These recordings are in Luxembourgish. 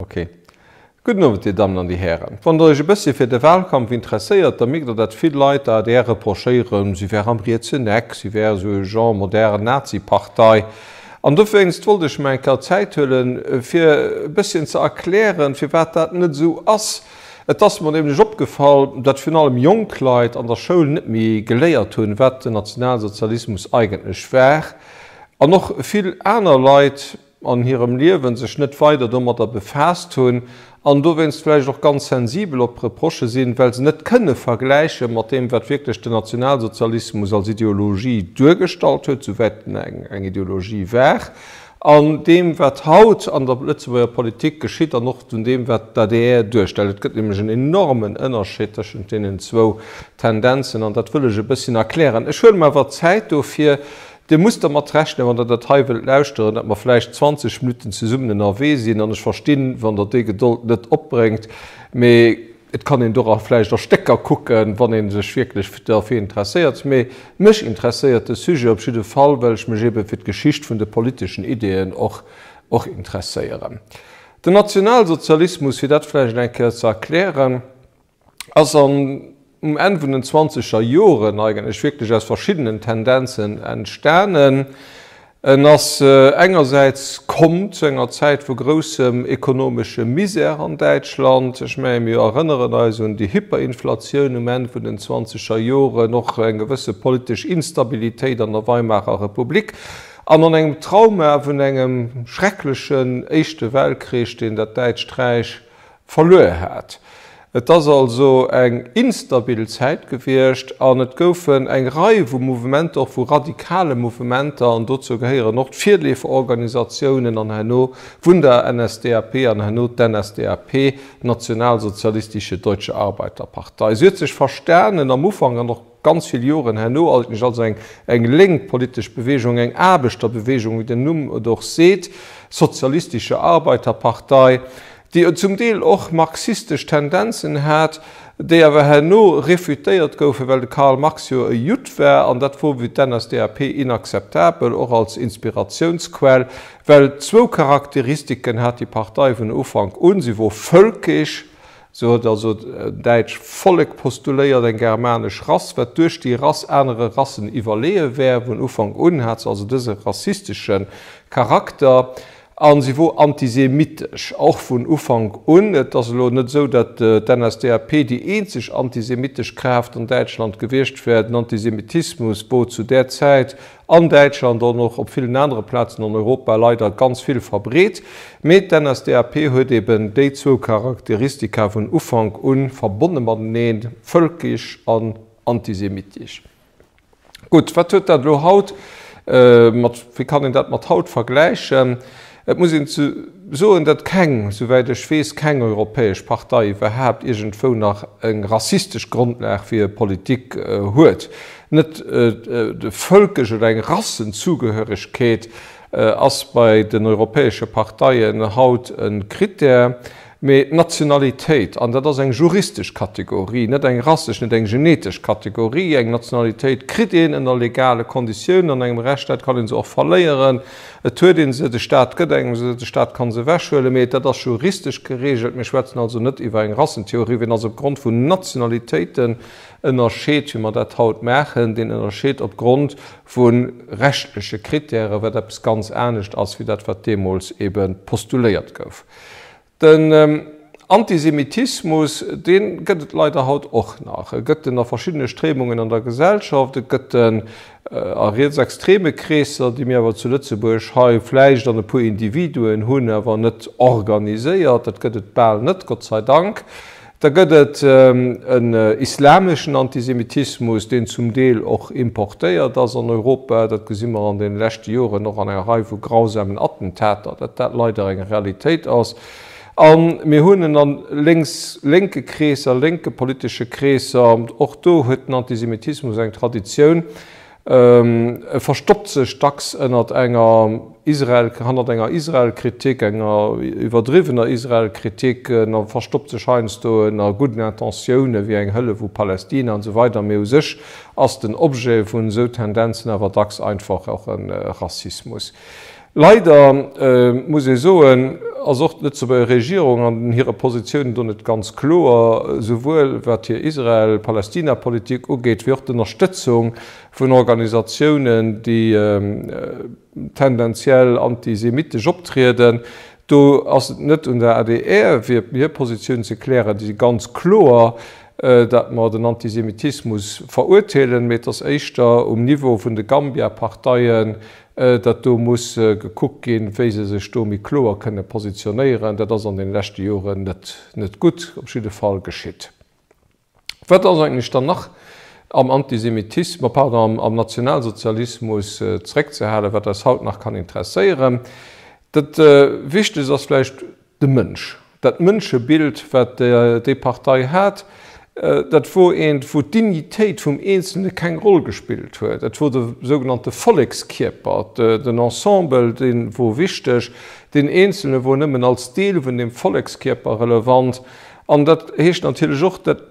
Ok. Gudden Owend, Dir Dammen an Dir Hären. Wann Der Iech e bësschen fir de Wahlkampf interesséiert, da mierkt Der, datt vill Leit der adr reprochéieren, si wär am rietsen Eck, si wär esou e Genre modern Nazi-Partei. An dowéinst wollt ech mer eng Kéier Zäit huelen, fir e bësschen ze erklären, firwat dat net esou ass. Et ass mer nämlech opgefall, datt virun allem jonk Leit an der Schoul net méi geléiert hunn, wat den Nationalsozialismus eigentlech war. An och vill aner Leit. an hirem Liewen sech net weider domadder befaasst hunn an dowéinst vläicht och ganz sensibel op Reprochë sinn, well se net kënne vergläiche mat deem, wat wierklech den Nationalsozialismus als Ideologie duergestallt huet, souwäit en eng Ideologie war, an deem, wat haut an der Lëtzebuerger Politik geschitt an och un deem, wat d'ADR duerstellt. Et gëtt nämlech en enormen Ënnerscheed tëschent deenen zwou Tendenzen, an dat wëll ech e bësschen erklären. Ech huelen mer awer Zäit dofir. Dir musst dermat rechnen, wann der dat hei wëllt lauschteren, datt mer vläicht 20 Minutten zesummen ënnerwee sinn. An ech verstinn, wann der déi Gedold net opbréngt. Mee et kann een dora vläicht a Stécker kucken, wann ee sech wierklech derfir interesséiert. Mee mech interesséiert de Sujet op jidde Fall, well ech mech eebe fir d'Geschicht vun de politeschen Ideeën och och interesséieren. Den Nationalsozialismus, fir dat vläicht eng Kéier ze erklären, ass an um Enn vun den zwanzeger Joren eigentlech wierklech aus verschiddenen Tendenzen entstanen. En ass engersäits komm zu enger Zäit vu groussem ekonomesche Misär an Däitschland. Ech menge mir erënneren eis un déi Hyperinflatioun um Enn vun den zwanzeger Joren, och eng gewësse politesch Instabilitéit an der Weimarer Republik an an engem Trauma vun engem schrecklechen Éischte Weltkrich, deen dat Däitscht Räich Verluer hat. Et ass also eng instabil Zäit gewiescht an et goufen eng Rei vu Mouvementer, och vu radikale Mouvementer, an dozou gehéieren och d'Virleeferorganisatiounen an herno vun der NSDAP an herno d'NSDAP, Nationalsozialistische Deutsche Arbeiterpartei. Se huet sech verstanen am Ufank an och. Ganz vill Joren herno eigentlech als eng eng lénk politesch Bewegung, eng Aarbechterbewegung, wéi den Numm et och seet, sozialistische Arbeiterpartei, déi zum Deel och marxistesch Tendenzen hat, déi awer herno refutéiert goufen, well de Karl Marx jo e Judd war, an dat wor fir d'NSDAP inakzeptabel, och als Inspiratiounsquell, well zwou Charakteristiken hat déi Partei vun Ufank un, si wor völkisch, Sou huet also d'däitsch Vollek postuléiert, eng germanesch Rass, wat duerch déi Rass anere Rassen iwwerleeë wär. Vun Ufank un hat se also dëse rassistesche Charakter a se wor antisemitesch och vun Ufank un. Et ass elo net esou, datt d'NSDAP déi eenzeg antisemitesch Kraaft an Däitschland gewiescht wär. Den Antisemitismus wor zu där Zäit an Däitschland an och op villen anere Plazen an Europa leider ganz vill verbreet, mee d'NSDAP huet eben déi zwou Charakteristika vun Ufank un, verbonne mateneen, völkisch an antisemitisch. Gutt, wat huet dat elo haut mat, wéi kann een dat mat haut vergläichen? Et muss een soen, datt keng, souwäit ech weess, keng europäesch Partei iwwerhaapt iergendwou nach eng rassistesch Grondlag fir hir Politik huet. Net de Vëlkesch oder eng Rassenzugehörigkeet ass bei den europäesche Parteien haut e Krittär. Mee d'Nationalitéit, an dat ass eng juristesch Kategorie, net eng rassesch, net eng genetesch Kategorie, eng Nationalitéit kritt een ënner legale Konditiounen an engem Rechtsstaat, kann ee se och verléieren, et huet ee se, de Staat gëtt engem se, de Staat ka se ewechhuelen, mee dat ass juristesch geregelt. Mir schwätzen also net iwwer eng Rassentheorie. Wien also opgrond vun Nationalitéiten ënnerscheet, wéi mer dat haut maachen, deen ënnerscheet opgrond vu rechtleche Krittären, wat eppes ganz anescht ass wéi dat, wat deemools eebe postuléiert gouf. Den Antisemitismus, dee gëtt et leider haut och nach. E gëtt en a verschiddene Stréimungen an der Gesellschaft. E gëtt en a rietsextreme Kreesser, déi mir awer zu Lëtzebuerg hei vläicht an e puer Individuen hunn, awer net organiséiert. Dat gëtt et bal net, Gott sei Dank. Da gëtt et en islameschen Antisemitismus, deen zum Deel och importéiert ass an Europa. Dat gesi mer an deene leschte Joren och an enger Rei vu grausamen Attentater, datt dat leider eng Realitéit ass. A mir hunn en a lénks, lénke Kreesser, lénke politesche Kreesser. Och do huet den Antisemitismus eng Traditioun. E verstoppt sech dacks ënnert enger Israel, hannert enger Israel-Kritik, enger iwwerdriwwener Israel-Kritik, en a verstoppt sech heiansdo ënner gudden Intentiounen, wéi eng Hëllef u Palästina an esou weider, mee u sech ass den Objet vun esou Tendenzen awer dacks einfach och e Rassismus. Leider muss ee soen, ass och d'Lëtzebuerger Regierung an hire Positiounen do net ganz kloer, souwuel wat hir Israel-Palästina-Politik ugeet, wéi och d'Ënnerstëtzung vun Organisatiounen, déi tendenziell antisemittesch optrieden. Do ass et net un der adr fir hir Positioun ze klären. Déi si ganz kloer, datt mer den Antisemitismus verurteelen, mee et ass éischter um Niveau vun de Gambia-Parteien, datt do muss gekuckt ginn, wéi se sech do méi kloer kënne positionéieren. Dat ass an deene leschte Joren net gutt, op jidde Fall, geschitt. Wat ass eigentlech dann nach am Antisemitis, ma pardon, am Nationalsozialismus zeréckzehalen, wat eis haut nach kann interesséieren? Dat Wichtegst ass vläicht, De Mënsch, dat Mënschebild, wat déi Partei hat, dat wor eent, wou d'Dignitéit vum Eenzelne keng Roll gespillt huet. Et wor de sougenannte Vollekskierper, den Ensemble, dee wor wichteg. Den Eenzelne wor nëmmen als Deel vun deem Vollekskierper relevant. An dat heescht natierlech och, dat.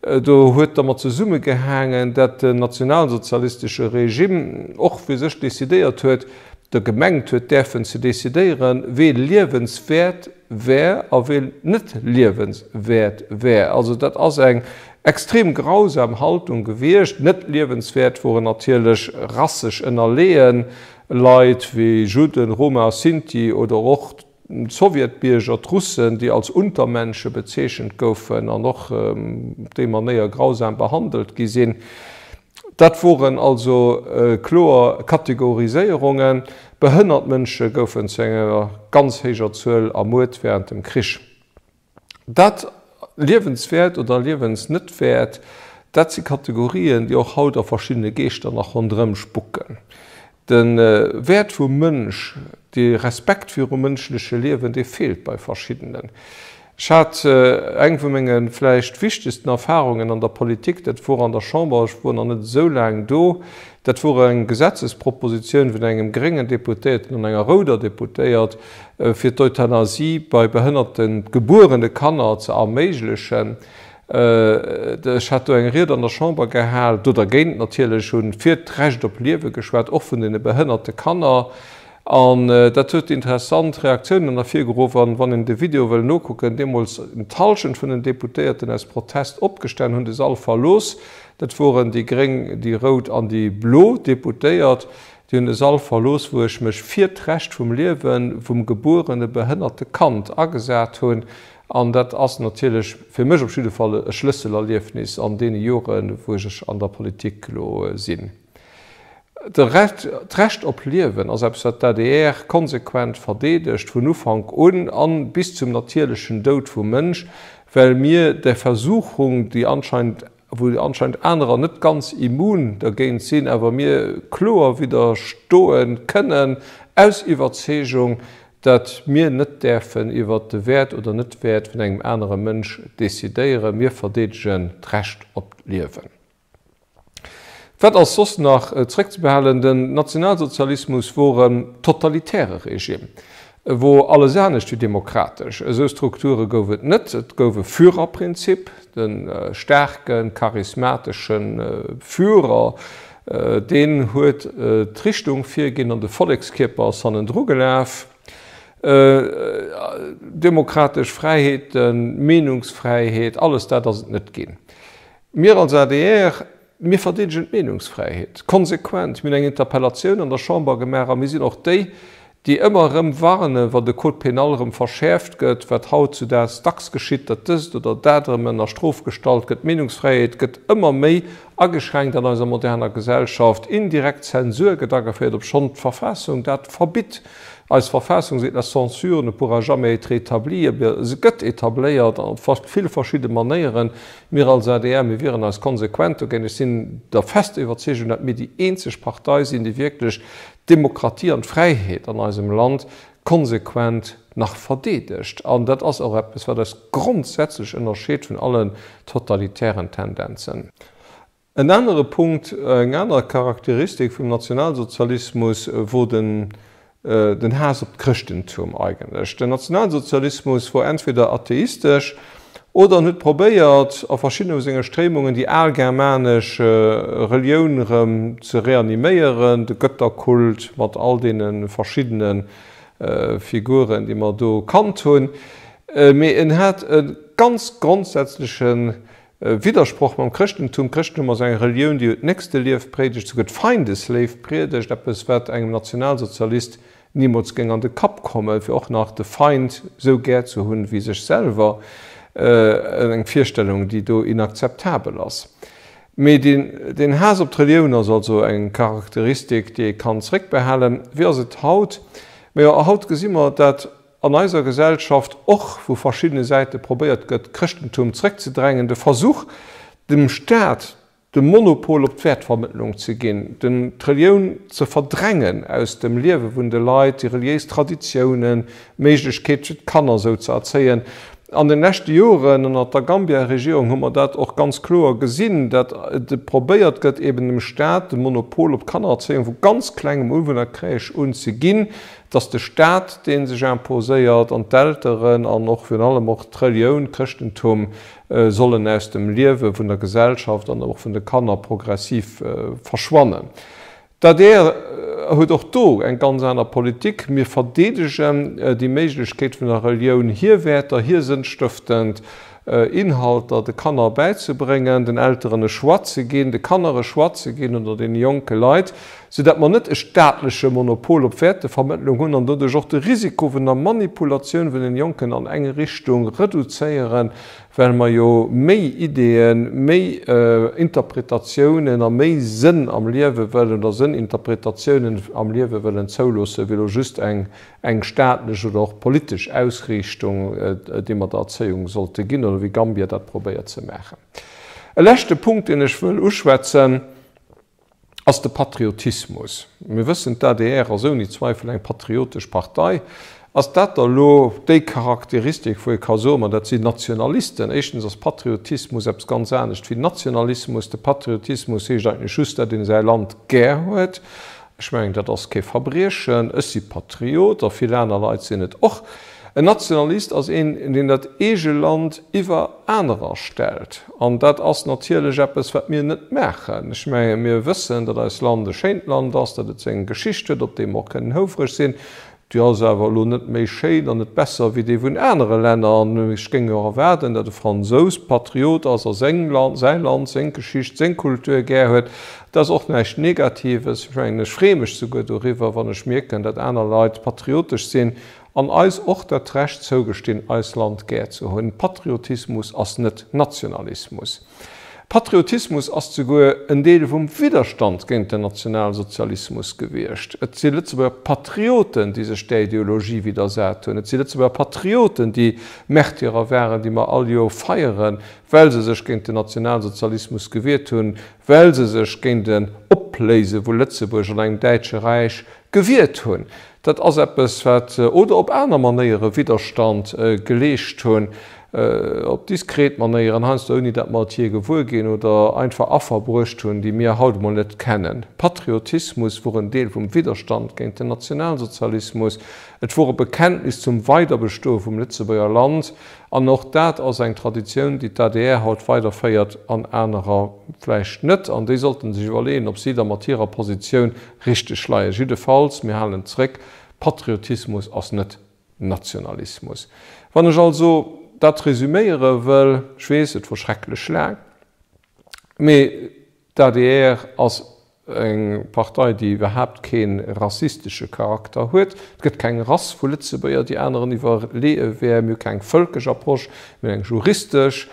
Do huet dermat zesummegehaangen, dat den nationalsozialistesche Regime och fir sech decidéiert huet, der gemengt huet däerfen ze decidéieren, wee liewenswäert wär a wee net liewenswäert wär. Also dat ass eng extrem grausam Haltung gewiescht. Net liewenswäert woren natierlech rassesch ënnerleeën Leit wéi Judden, Roma, Sinti oder och D'Sowjetbierger, d'Russen, déi als Untermensche bezeechent goufen an och op déi Manéier grausam behandelt gi sinn, dat woren also kloer Kategoriséierungen. Behënnert Mënsche goufen zu enger ganz héijer Zuel ermuert wärend dem Krich. Dat liewenswäert oder liewens net wäert, dat si Kategorien, déi och haut a verschiddene Geeschter nach ronderëm spucken. De Wäert vum Mënsch, de Respekt virum mënschleche Liewen, dee feelt bei verschiddenen. Ech hat eng vu menge vläicht wichtegsten Erfarungen an der Politik, dat wor an der Chamber, ech wor nach net esou laang do, dat wor eng Gesetzespropositioun vun engem gréngen Deputéierten an enger rouder Deputéiert, fir d'Euthanasie bei behënnerten gebuerene Kanner ze erméiglechen. Ech hat do eng Ried an der Chamber gehal, do dergéint natierlech, hunn fir d'Recht op Liewe geschwat, och vun den behënnerte Kanner. An dat huet interessant Reaktiounen ervirgeruff. An wann een de Video wëll nokucken, deemools d'Halschent vun den Deputéierten aus Protest opgestan, hunn de Sall verlooss. Dat woren déi gréng, déi rout an déi blo Deputéiert. Déi hunn de Sall verlooss, wou ech mech fir d'Recht vum Liewe vum gebuerene behënnerte Kand agesat hunn. An dat ass natierlech, fir mech op jidde Fall, e Schlësselerliefnis an deene Joren, wou ech an der Politik elo sinn. D'Recht op Liewen ass eppes, wat d'ADR konsequent verdeedegt, vun Ufank un a bis zum natierlechen Doud vum Mënsch, well mir der Versuchung, déi anscheinend a wou anscheinend anerer net ganz immun dergéint sinn, awer mir kloer widderstoe kënnen aus Iwwerzeegung, datt mir net däerfen iwwert de Wäert oder Net-Wäert vun engem anere Mënsch decidéieren. Mir verdeedegen d'Recht op d'Liewen. Wat ass soss nach zréckzebehalen? Den Nationalsozialismus wor e totalitäre Regime. E wor alles anescht wéi demokratesch. Esou Strukture gouf et net. Et gouf e Führerprinzip, de staarken, charismateschen Führer, deen huet d'Richtung virginn an de Vollekskierper ass hannendru gelaf. Demokratesch Fräiheeten, Meenungsfräiheet, alles dat ass et net ginn. Mir als adr. Mir verdeedegen d'Meenungsfräiheet konsequent. Mir hunn eng Interpellatioun an der Chamber gemaach a mir sinn och déi, déi ëmmer erëm warnen, wa de Code pénal erëm verschäerft gëtt, wat hautzudags dacks geschitt, datt dëst oder dat erëm ënner Strof gestallt gëtt. D'Meenungsfräiheet gëtt ëmmer méi ageschränkt an eiser moderner Gesellschaft. Indirekt Zensur gëtt ageféiert, obschonn d'Verfassung dat verbitt. Eis Verfassung seet, La censure ne pourra jamais être établie. Awer se gëtt etabléiert op vill verschidde Manéieren. Mir als adr, mir wieren eis konsequent dogéint. Ech sinn der fester Iwwerzeegung, datt mir déi eenzeg Partei sinn, déi wierklech d'Demokratie an d'Fräiheet an eisem Land konsequent nach verdeedegt. An dat ass och eppes, wat eis grondsätzlech ënnerscheet vun allen totalitären Tendenzen. En anere Punkt, eng aner Charakteristik vum Nationalsozialismus wor den den Haass op d'Chrëschtentum eigentlech. Den Nationalsozialismus wor entweder atheistesch oder en huet probéiert a verschiddene vu senge Stréimungen déi al germanesch Relioun erëm ze reaniméieren, de Götterkult mat all deene verschiddene Figuren déi mer do kannt hunn, mee en hat e ganz grondsätzleche E Widdersproch mam Chrëschtentum, D'Chrëschtentum ass eng Relioun, déi jo d'Nächstelieft prédegt, souguer d'Feindesléift priedegt, eppes, wat engem Nationalsozialist nimools géing an de Kapp kommen, fir och nach de Feind esou gär ze hunn wéi sech selwer. Eng Virstellung, déi do inakzeptabel ass. Mee deen Haass op d'Relioun ass also eng Charakteristik, déi ee kann zréckbehalen. Wéi ass et haut? Majo, haut gesi mer, dat. an eiser Gesellschaft och vu verschiddene Säite probéiert gëtt, d'Chrëschtentum zréckzedrängen, de Versuch, dem Staat de Monopol op d'Wäertvermëttlung ze ginn, d'Relioun ze verdrängen aus dem Liewe vun de Leit, déi reliéis Traditiounen, d'Méiglechkeet fir d'Kanner esou ze erzéien. An de leschte Joren ënnert der Gambia-Regierung hu mer dat och ganz kloer gesinn, datt probéiert gëtt, eeben dem Staat de Monopol op d'Kannererzéiung vu ganz klengem un, vun der Crèche un, ze ginn. dass de Staat dee sech imposéiert an d'Elteren an och virun allem och d'Relioun, d'Chrëschtentum, sollen aus dem Liewe vun der Gesellschaft an och vun de Kanner progressiv verschwannen. D'adr huet och do eng ganz aner Politik. Mir verdeedegen déi Méiglechkeet vun der Relioun, hir Wäerter, hir sënnstëftend. Inhalter de Kanner bäizebréngen, den Elteren e Choix ze ginn, de Kanner e Choix ze ginn oder deene jonke Leit, sou dat mer net e staatleche Monopol op Wäertevermëttlung hunn an doduerch och de Risiko vun der Manipulatioun vun den Jonken an eng Richtung reduzéieren, well mer jo méi Ideeën, méi Interpretatiounen a méi Sënn am Liewe wëllen oder Sënninterpretatiounen am Liewe wëllen zouloossen, wéi elo just eng eng staatlech oder och politesch Ausriichtung, déi mer der Erzéiung sollte ginn, oder wéi Gambia dat probéiert ze maachen. E leschte Punkt, deen ech wëll uschwätzen, ass de Patriotismus. Mir wëssen, d'ADR ass ouni Zweifel eng patriotesch Partei. Ass dat da elo déi Charakteristik, wou ee ka soen, ma dat sinn Nationalisten? Éischtens ass Patriotismus eppes ganz anescht wéi Nationalismus. De Patriotismus heescht eigentlech just, datt ee säi Land gär huet, Ech mengen, dat ass kee Verbriechen. Ech si Patriot a vill aner Leit sinn et och. En Nationalist ass een, deen dat eege Land iwwer anerer stellt. An dat ass natierlech eppes, wat mir net maachen. Ech menge mir wëssen, datt eist Land e schéint Land ass, datt et seng Geschicht huet, op déi mer och kënnen houfereg sinn. Déi ass awer elo net méi schéin an net besser wéi déi vun anere Länner. An ech géing jo och erwaarden, datt e Fransous Patriot ass a seng Land, säi Land, seng Geschicht, seng Kultur gär huet. Dat ass och näischt Negatives. Ech mengen, ech freeë mech souguer doriwwer, wann ech mierken, datt aner Leit patriotesch sinn an eis och dat Recht zougestinn, eis Land gär ze hunn. Patriotismus ass net Nationalismus. Patriotismus ass souguer en Deel vum Widderstand géint den Nationalsozialismus gewiescht. Et si Lëtzebuerger Patrioten, déi sech där Ideologie widdersat hunn. Et si Lëtzebuerger Patrioten, déi Märtyrer waren, déi mer all Joer feieren, well se sech géint den Nationalsozialismus gewiert hunn, well se sech géint en Opléise vu Lëtzebuerg an engem däitsche Räich Gewiert hunn. Dat ass eppes, wat. Oder op aner Manéiere Widderstand geleescht hunn, op diskret Manéieren, heiansdo ouni datt mer et jee gewuer ginn, oder einfach Affer bruecht hunn, déi mir haut emol net kennen. Patriotismus wor en Deel vum Widderstand géint den Nationalsozialismus. Et wor e Bekenntnis zum Weiderbestoe vum Lëtzebuerger Land. An och dat ass eng Traditioun, déi d'ADR haut weiderféiert an anerer vläicht net. An déi sollte sech iwwerleeën, ob si da mat hirer Positioun Richteg Schleie jiddefalls, mir halen zréck, Patriotismus ass net Nationalismus. Wann ech also dat resüméiere wëll, ech weess, et wor schrecklech laang, mee d'ADR ass eng Partei, déi iwwerhaapt kee rassistesche Charakter huet. Et gëtt keng Rass vu Lëtzebuerger, déi aneren iwwerleeë wären. Mir hu keng vëlkesch Approche, mee eng juristesch.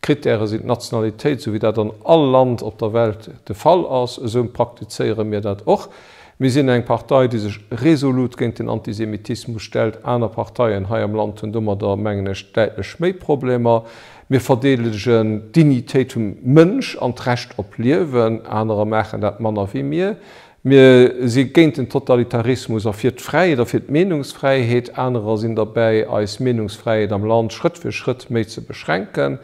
D'Krittäre sinn d'Nationalitéit, sou wéi dat an all Land op der Welt de Fall ass. Esou praktizéiere mir dat och. Mir sinn eng Partei, déi sech resolut géint den Antisemitismus stellt. Aner Parteien hei am Land hunn domadder, mengen ech, däitlech méi Problemer. Mir verdeedegen d'Dignitéit vum Mënsch an d'Recht op Liewen. Anerer maachen dat manner wéi mir. Mir si géint den Totalitarismus a fir d'Fräiheet a fir d'Meenungsfräiheet. Anerer sinn derbäi, eis Meenungsfräiheet am Land Schrëtt fir Schrëtt méi ze beschränken.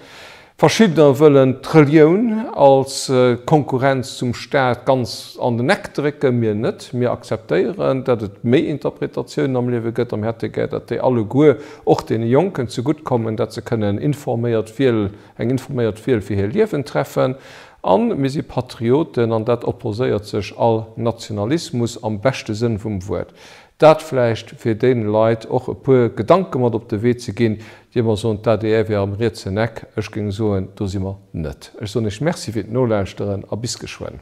Verschiddener wëllen d'Relioun als Konkurrenz zum Staat ganz an den Eck drécken. Mir net. Mir akzeptéieren, datt et méi Interpretatiounen am Liewe gëtt, a mir hätte gär, datt déi alleguer och deene Jonken zegutt kommen, datt se kënnen informéiert Wiel, eng informéiert Wiel fir hir Liewen treffen. An mir si Patrioten an dat opposéiert sech all Nationalismus am beschte Sënn vum Wuert. Dat vläicht fir deene Leit och e puer Gedanke mat op de Wee ze ginn, déi ëmmer soen, d'ADR wier am rietsen Eck. Ech géing soen, do si mer net. Ech soen Iech Merci fir d'Nolauschteren a bis geschwënn.